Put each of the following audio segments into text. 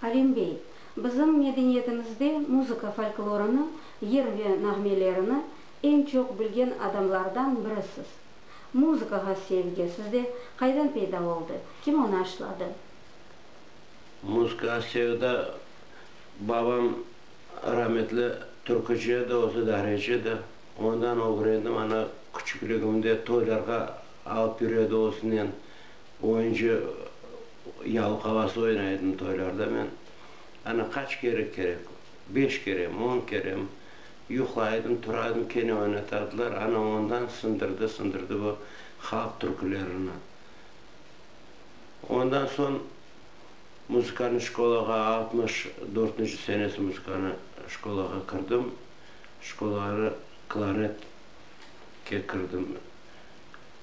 Alim bey, bizim medeniyetimizde muzıka folklorını, yır ve nağmelerini eñ çoq bilgen adamlardan birisiz. Muzıkağa sevgi sizde qaydan peyda oldı, kim onı aşladı? Muzıkağa sevda, babam rametli türkücü edi, özü dahreci edi. Ondan ögrendim, ana, küçükligimde toylarğa alıp yüredi özünen. Oyuncu yalqalası oynaydım toylarda men. Ana qaç kere kerek, beş kerem, on kerem yuqlaydım, turaydım, kene oynatadılar. Ana ondan sındırdı, sındırdı bu halq türkülerini. Ondan soñ muzıkanı şkolağa altmış dörtünci senesi muzıkanı şkolağa kirdim. Şkolağa klarnetke kirdim.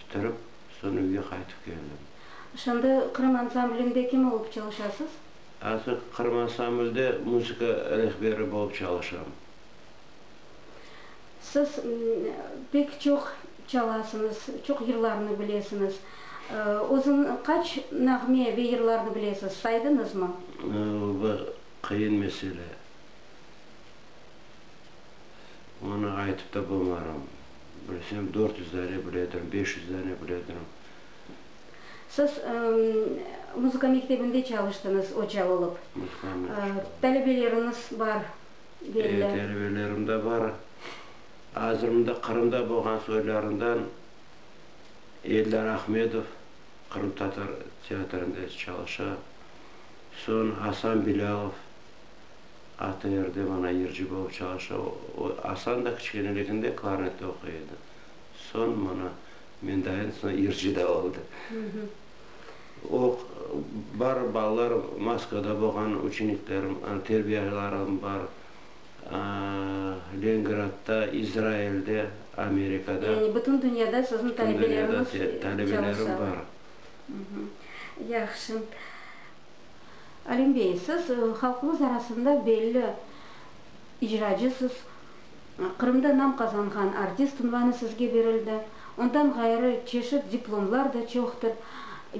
bitirip, soñ üyge qaytıp keldim. Şimdi Qırım ansamblinde kim olıp çalışasız? Artıq Qırım ansamblde muzıka rehberi bolıp çalışam. Siz pek çoq çalasıñız, çoq yırlarnı bilesiñiz. Özüñ qaç nağme ve yırlarnı bilesiz, saydıñızmı? Bu qıyın mesele. Onı aytıp da bolmaram. Bilsem, dört yüz dane bile edirim, beş yüz dane bile edirim. Siz muzıka mektebinde çalıştıñız oca olıp. Muzıka mektebinde. Talebeleriñiz bar, belli. E, talebelerim de bar. Azır mında Qırımda bolğan soylarından Eldar Ahmedov qırımtatar teatrında çalışa. Soñ Asan Bilâlov. ATR-de Manay Yırcı bolıp çalışa. O, Asan da kiçkeneliginde klarnette oquy edi. Soñ mana, mendayen soñ yırcı da oldı. O, bar balalarım, Moskvada bolğan uçeniklerim, terbiyalarım bar, Lengradda, İzrailde, Amerikada. Yani bütün dünyada siziñ talebeleriñiz çalışa. Bütün dünyada talebelerim bar. Yahşı. Alim bey, siz halqımız arasında belli icracısız. Qırımda nam qazanğan artist unvanı sizge berildi. Ondan ğayrı çeşit diplomlar da çoqtır.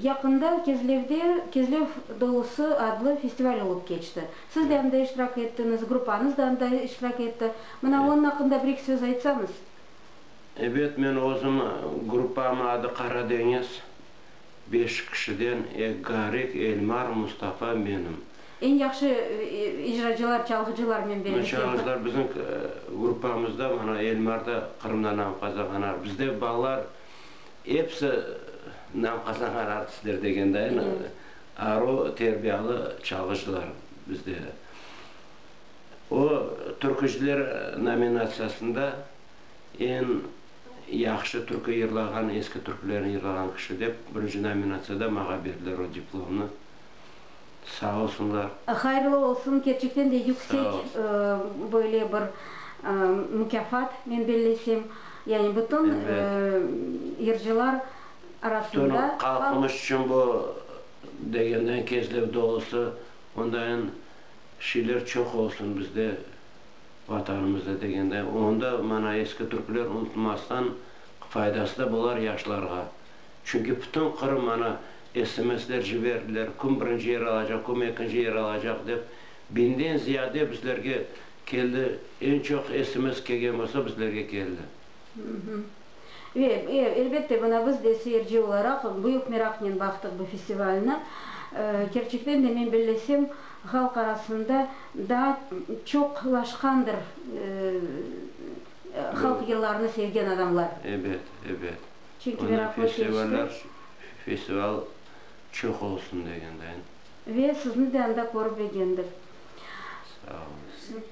Yaqında Kezlevde Kezlev dolusı adlı festival olıp keçti. Siz de anda iştirak ettiñiz, gruppanız da anda iştirak etti. Mına onıñ aqqında bir-eki söz aytsañız. Ebet, men özüm, gruppamnıñ adı Qaradeñiz. Beş kişiden ek Garik, Elmar, Mustafa, menim. Eñ yahşı icracılar, çalğıcılarnen belli. Bunı çalğıcılar bizim gruppamızda mana Elmar da Qırımda nam qazanğan artist. Bizde balalar episi nam qazanğan artistler degende aru terbiyalı çalğıcılar bizde. O, türkücüler nominatsiyasında eñ. Yahşı türkü yırlağan, eski türkülerni yırlağan kişi dep birinci nominatsiyada mağa berdiler o diplomnı. Sağ olsunlar. Hayırlı olsun, kerçekten de yüksek böyle bir mukâfat, men bellesem. Yani bütün yırcılar arasında. Bütün halqımız içün bu degenden kezlev dolusı, ondayın şeyler çoq olsun bizde. Vatanımızda degende, onda mana eski türkler unutmastan faydası da bolar yaşlarğa. Çünki bütün Qırım mana SMSler ciberdiler, kim birinci yer alacaq, kim ekinci yer alacaq dep. Biñden ziyade bizlerge keldi, eñ çoq SMS kelgen bolsa bizlerge keldi. Ve, elbette, buna biz de, seyirci olaraq, büyük meraqnen baqtıq bu festivalni. Kerçekten de, men bellesem, halq arasında daa çoqlaşqandır halq yıllarını sevgen adamlar. Ebet, ebet. Çünki meraqlı keçti. Festival çoq olsun degendeyin. Ve sizni de anda körip egendik. Sağ olunız.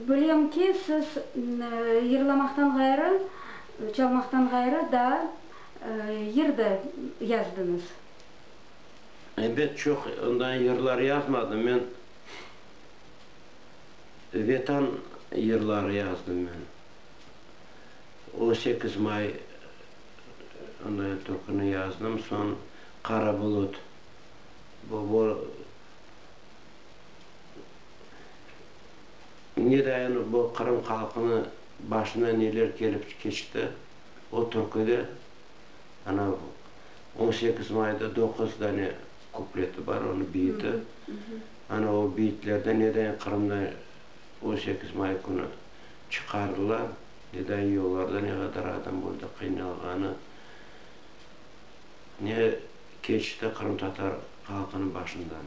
Bilem ki, siz yırlamaqtan ğayrı, çalmaqtan ğayrı daa yır da yazdıñız. Ebet, çoq onday yırlar yazmadım men. Vetan yırları yazdım men. On sekiz may onday türküni yazdım, soñ Qara bulut, bu, bu. Ne dayanıp bu Qırım halqını başına neler kelip keçti, o türküde ana on sekiz mayda doquz dane kupleti bar, onı biyiti. Ana o biyitlerde ne dayan Qırımda on sekiz may künü çıqardılar, ne dayan yollarda ne qadar adam öldi, qıynalğanı, ne keçti qırımtatar halqınıñ başından.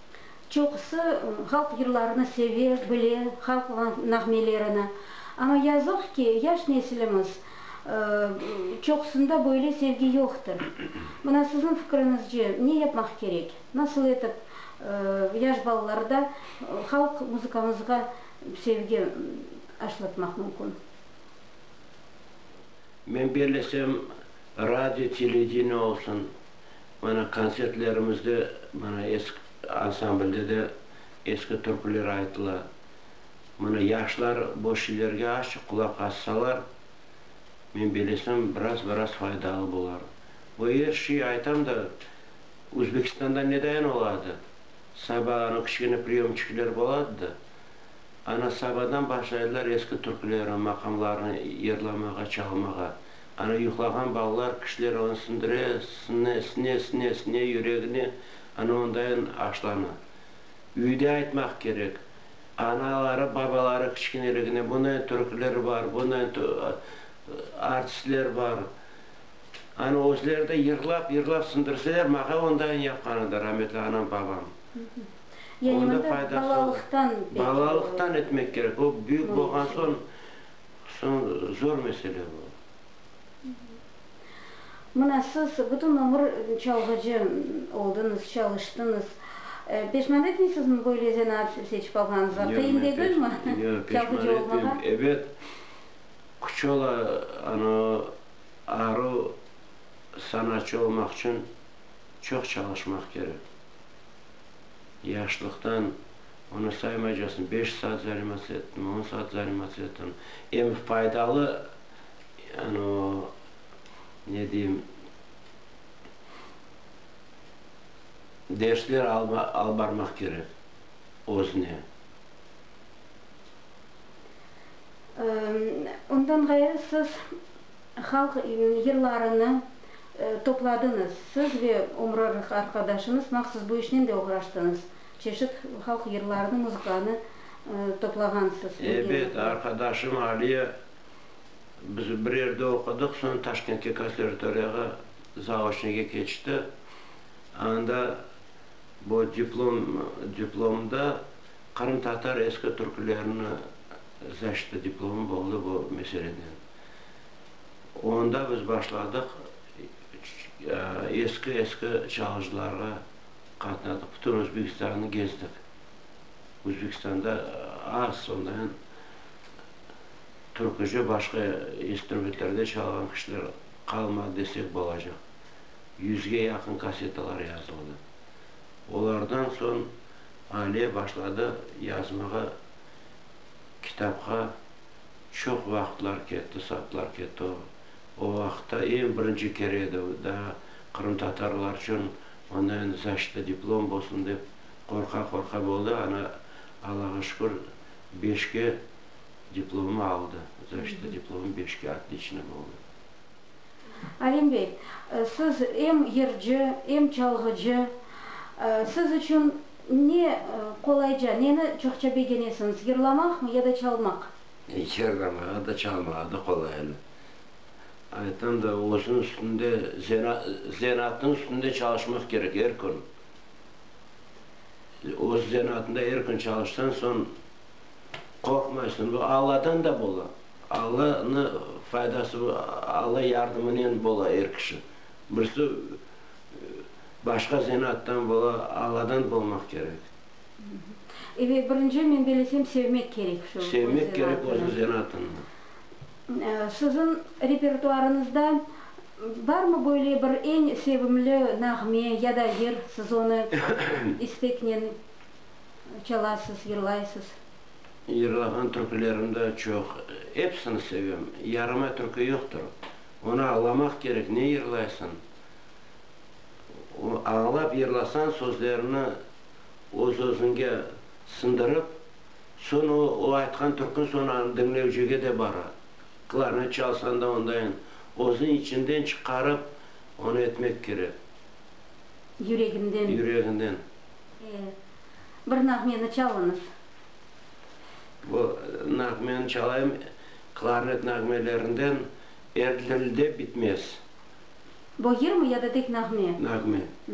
Çoqusı halq yırlarını seve, bile, halq nağmelerini. Amma yazıq ki, yaş nesilimiz çoqusında böyle sevgi yoqtır. Mına, siziñ fikriñizce, ne yapmaq kerek? Nasıl etip yaş balalarda halq muzıkamızğa sevgi aşlatmaq mümkün? Men bellesem, radio, televideniye olsun, Mana, kontsertlerimizde, mana, eski ansamblde de eski türküler aytıla. Mana, yaşlar bu şiirlerge azçıq qulaq assalar, men belesem, biraz-biraz faydalı bolar. Bu er şiy aytam da, Özbekistanda nedayen oladı, saba anı kiçkene priyomçikler boladı da, ana sabadan başlaydılar eski türkülerni, maqamlarnı yırlamağa, çalmağa. Anı yuqlağan ballar kişiler onı sindire, sine, sine, sine, sine yüregine, anı ondayın aşlana. Üyde aytmaq kerek, anaları, babaları kiçikineligine bundayn türküler bar, bundayn artistler bar. Anı özleri de yırlap, yırlap sindirseler, maqa ondayın yapqan edi rametli anam, babam. Yani onda balalıqtan. Balalıqtan etmek kerek. O büyük bolğan soñ. Soñ zor mesele bu. Mına siz bütün ömür çalğıcı oldıñız, çalıştıñız. Peşman etmeysizmi böyle zenaat seçip alğanıñızğa? Qıyın degilmi çalğıcı olmağa? Ebet, küç ola, ana o arı sanatçı olmaq içün çoq çalışmaq kerek. Yaşlıqtan Onı saymaycasın, beş saat zarimatsı ettim, on saat zarimatsı ettim. Em faydalı, anı, ne deyim, dersler alıp barmaq kerek özüne. Ondan ğayrı siz halq yırlarını topladıñız. Siz ve ömür arqadaşıñız mahsus bu işnen de oğraştıñız. Çeşit halq yırlarını, muzıkanı toplağansız. Ebet, arqadaşım Aliye, biz bir yerde oqudıq, soñ Taşkentke konservatoriyağa zaoçnıge keçti. Anda bu diplom, diplomda qırımtatar eski türkülerini zaşita diplomı boldı bu meseleden. Onda biz başladıq eski-eski çalğıcılarğa. Qatnadıq, bütün Özbekistannı gezdik. Özbekistanda az, sondanen türküce başqa instrumentlerde çalğan kişiler qalmadı desek bolacaq. Yüzge yaqın kassetalar yazıldı. Olardan soñ Aliye başladı yazmağa, kitapqa çoq vaqıtlar ketti, saatlar ketti. O vaqıtta eñ birinci kere edi, daa qırımtatarlar içün Onda endi zaşita diplom bolsun dep qorqa-qorqa boldı, ana Allağa şükür beşke diplomı aldı, zaşita diplomı beşke otliçnıy boldı. Alim bey, siz em yırcı, em çalğıcı, siz içün ne qolayca, neni çoqça begenesiñiz, yırlamaqmı ya da çalmaq? Yırlamağa da, çalmağa da qolay eli. Aytam da, özüniñ üstünde, zenaatınıñ üstünde çalışmaq kerek er kün. Öz zenaatında er kün çalışsan soñ, qorqmaysıñ. Bu Alladan da bola. Allanı faydası, Alla yardımınen bola er kişi. Birisi başqa zenaattan bola, Alladan bolmaq kerek. Birinci, men belesem, sevmek kerek şu öz zenaatını. Sevmek kerek özüñ zenaatını. Siziñ repertuarıñızda barmı böyle bir eñ sevimli nağme ya da yır, siz onı isteknen çalasız, yırlaysız? Yırlağan türkülerim de çoq, episini sevem, yaramay türkü yoqtır, onı añlamaq kerek, ne yırlaysıñ, añlap yırlasañ sözlerini öz-özüñge siñdirip, Soñ o, o aytqan türkün sonarını diñlevcige de bara. Klarnet çalsan da ondayın özüñ içinden çıqarıp, onı etmek kerek. Yüreginden. Yüreginden. E, bir nağmeni çalıñız. Bu nağmeni çalayım, klarnet nağmelerinden Er dilde bitmez. Bu yırmı ya da tek nağme? Nağme. Mh.